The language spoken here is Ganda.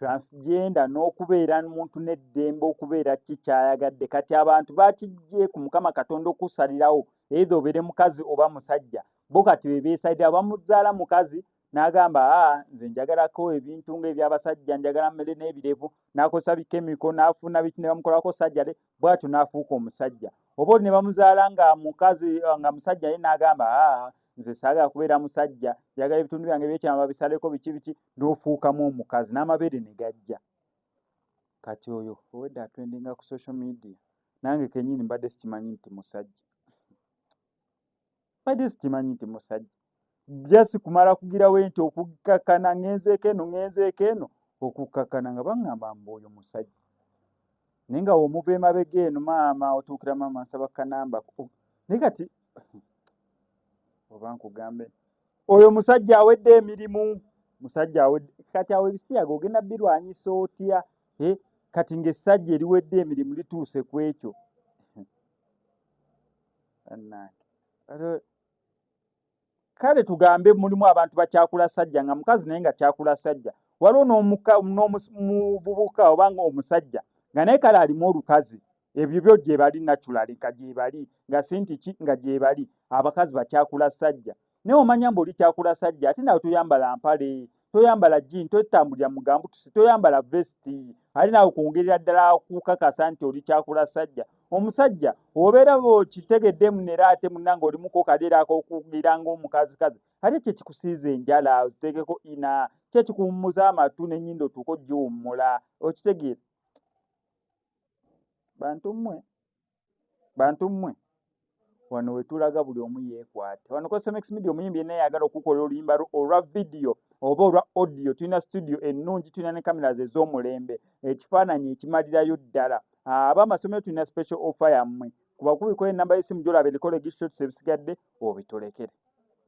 transgenda n'okubeera muntu n'eddembe okubeera ki kyayagadde kati abantu bakijje ku mukama katonda okusalirawo eitha obeere mukazi oba musajja bo kati bebeesalira bamuzaala mukazi n'agamba a ah, nze njagalako ebintu nga ebyabasajja njagala mmere n'ebirevu n'akozesa bikemiko n'afuna biki ne bamukolako sajjale bwatyo n'afuuka omusajja oba oli ne bamuzaala nga mukazi nga musajja ye n'agamba a ah, nze saagala kubeera musajja njagala ebitundu byange byekyama babisaleko biki biki n'ofuukamu omukazi n'amabeere ne gajja kati oyo owedde atwendinga ku social media nange kenyini mbadde sikimanyi nti musajja mbadde sikimanyi nti musajja jasi kumala kugirawo enti okukkakana ngenzeeko eno ngenzeeko eno okukkakana nga baŋŋamba mbu oyo musajja naye nga womuva emabega eno maama otuukira maama nsaba kanamba naye kati oba nkugambe oyo musajja awedde emirimu musajja awedde kati awo ebisiyaga ogenda birwanyisa otya eh, kati ng'essajja eriwedde emirimu lituuse ku ekyo kale tugambe mulimu abantu bakyakula sajja nga mukazi naye nga kyakula sajja waliwo n'omuvubuka obanga omusajja nga naye kale alimu olukazi ebyo byo gyebali naturali nga gyebali nga sintiki nga gyebali abakazi bakyakula sajja naye omanya mbu oli kyakula sajja ate nawe toyambala mpale toyambala jini totambulira mugambutusi toyambala vesti ali nawe kwongerera ddala kukakasa nti oli kyakula sajja omusajja obeera okitegedde munera ate munanga olimuko kadeera akokugira ngaomukazikazi ate kyekikusiiza enjala ozitegeko ina kyekikuwummuza amatu nenyindo otuuka ogiwummula okitegeera bantu mmwe bantu mmwe wano wetulaga buli omu yeekwate wano cosemex media omuyimbi yenna yagala okukola oluyimba olwa vidiyo oba olwa audio tulina studio ennungi tulina ne cameras ez'omulembe ekifaananyi ekimalirayo ddala aba amasomero tulina special offer yammwe kubakubikola enamba y'essimu gyolaba ebikolo egishotsi ebisigadde obitulekere